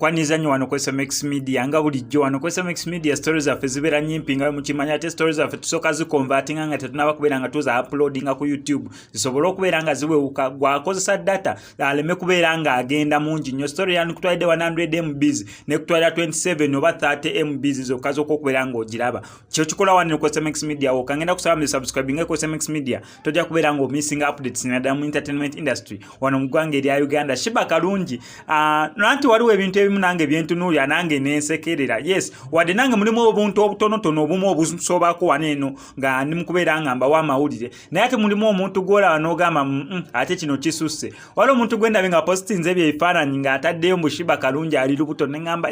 kwaniriza nnyo wano ku sms media nga bulijjo wano ku sms media story zaffe zibeera nyimpi nga mukimanya ate story zaffe tusooka zikonvatinga nga tetunaba kubeera nga tuza uploadinga ku youtube zisobole okubeera nga ziwewuka gwakozesa data aleme kubeera ng'agenda mungi nnyo story yanu kutwalidde 100 mbs ne kutwalira 27 oba 30 mbs zokka zokka okubeera ng'ogiraba kyo kikola wano ku smx media woka ngenda kusaba mu subscribe nga ku smx media tojja kubeera ng'omissinga updates naddala mu entertainment industry wano mu ggwanga erya uganda shiba kalungi ah, nanti waliwo ebintu ebimu nange byentunuulira nange nensekerera yes wadde nange mulimu obuntu obutonotono obumu obusobako wano eno nga ndi mu kubeera nga mbawo amawulire naye ate mulimu omuntu gwolaba nogamba mm, mm, ate kino kisusse waliwo omuntu gwendabe nga positinze ebyo ebifaananyi ng'ataddeyo mbushiba kalungi ali lubuto neŋamba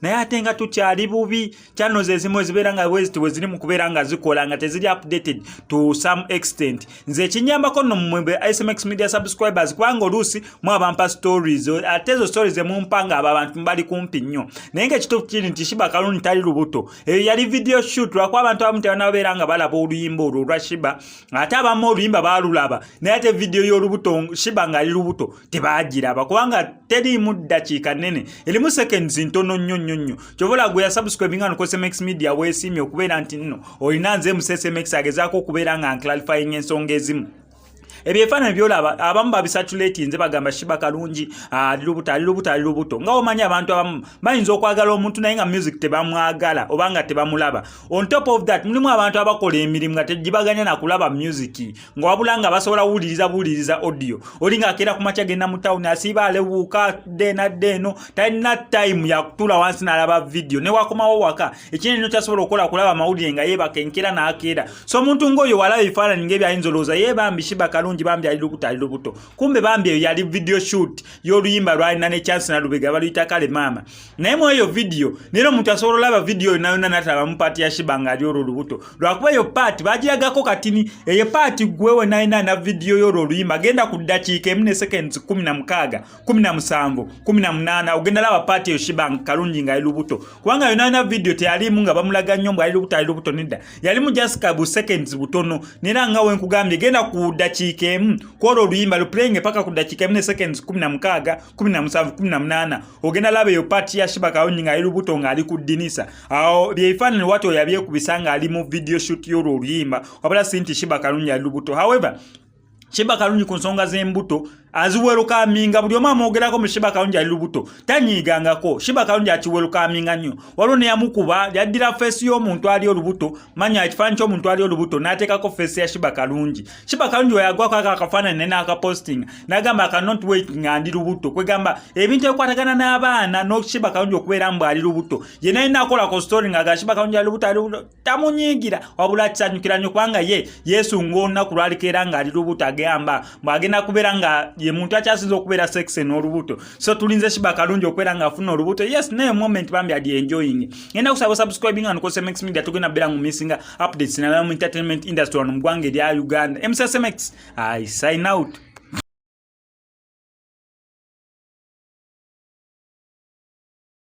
naye ate nga tukyali bubi channels ezimu ezibeera nga weziti weziri mu kubeera nga zikola nga teziri updated to some extent nze ekinyambako no mumwembe ismx media subscribers kubanga oluusi mu abampa stories ate ezo stories emumpa nga abo abantu mbali kumpi nnyo naye nga ekituufu kiri nti shiba kalungi tali lubuto eyo yali video shoot lwakuba abantu abamu tebanabeera nga balaba oluyimba olwo olwa shiba ate abamu oluyimba balulaba naye ate vidiyo y'olubuto shiba ngaali lubuto tebagiraba kubanga teriimu ddakiika nene erimu seconds ntono nnyo nnyo nnyo kyobola gwe yasubscribe nga nokosmx media weesiimye okubeera nti nno olina nze musesmx agezaako okubeera nga nclarifying ensonga ezimu ebyo ebifaananyi byolaba abamu babisatulatinze bagamba shiba kalungi ah, ali lubuto ali lubuto ali lubuto nga omanyi abantu abamu bayinza okwagala omuntu naye nga music tebamwagala oba nga tebamulaba on top of that mulimu abantu abakola emirimu nga tegibaganya nakulaba music nga wabula nga basobola wuliriza buwuliriza audio oli nga akeera ku makya genda mu tawuni asiiba alewuuka dde nadde eno talina time yakutula wansi nalaba vidiyo newakomawo waka ekindi nno kyasobola okukola kulaba amawulire nga yebaka enkera nakeera so omuntu ngaoyo walaba ebifaananyi nga ebyayinza olowooza ye bambi shiba kalungi bambi ali lubuto ali lubuto kumbe bambi eyo yali video shoot y'oluyimba lwalina ne chance na lubega baluyita kale maama naye mu eyo vidiyo nera omuntu asobola olaba vidiyo yona yona natalabamu paati ya shiba nga ali olwo lubuto lwakuba eyo paati bagiragako katini eyo paati gwewe nayina na vidiyo y'olwo oluyimba genda ku ddakiika emu ne seconds kumi na mukaaga kumi na musanvu kumi na munaana ogenda laba paati eyo shibank kalungi nga ali lubuto kubanga yona yona vidiyo teyalimu nga bamulaga nnyo mbu ali lubuto ali lubuto nedda yalimu jasika bu seconds butono nera nga wenkugambye genda ku dakiika emu kwolwo oluyimba luplayinge paka ku dakiika emu ne seconds kumi na mukaaga kumi na musanvu kumi na munaana ogenda laba eyo paati ya shiba kalungi nga ali lubuto nga ali ku dinisa awo byebifaanani wati oyabyekubisa nga ali mu vidiyo shoot yolwo oluyimba wabula si nti shiba kalungi ali lubuto however Shiba Kalungi ku nsonga z'embuto aziwelukaminga buli omu amwogerako mu Shiba Kalungi ali lubuto tanyiigangako Shiba Kalungi akiwelukaminga nnyo waliwo neyamukuba yaddira feesi y'omuntu ali olubuto manya ekifaananyi ky'omuntu ali olubuto n'ateekako feesi ya Shiba Kalungi Shiba Kalungi weyagwako ako akafaananyi ne n'akapostinga n'agamba aka not wait nga ndi lubuto kwegamba ebintu ebikwatagana n'abaana no Shiba Kalungi okubeera mbu ali lubuto ye naye nakolako story nga aga Shiba Kalungi ali lubuto ali lubuto tamunyiigira wabula akisanyukira nnyo kubanga ye yesu ng'olunaku lwaliko era ng'ali lubuto agamba mbu agenda kubeera nga ye muntu akyasinza okubeera sexe n'olubuto so tulinze shiba kalungi okubeera ng'afuna olubuto yes naye moment bambi adi enjoying ngenda kusaba subscribing and cosmex media tugenda beera mu missinga updates nalala mu entertainment industry wano mu ggwanga erya uganda msmx i sign out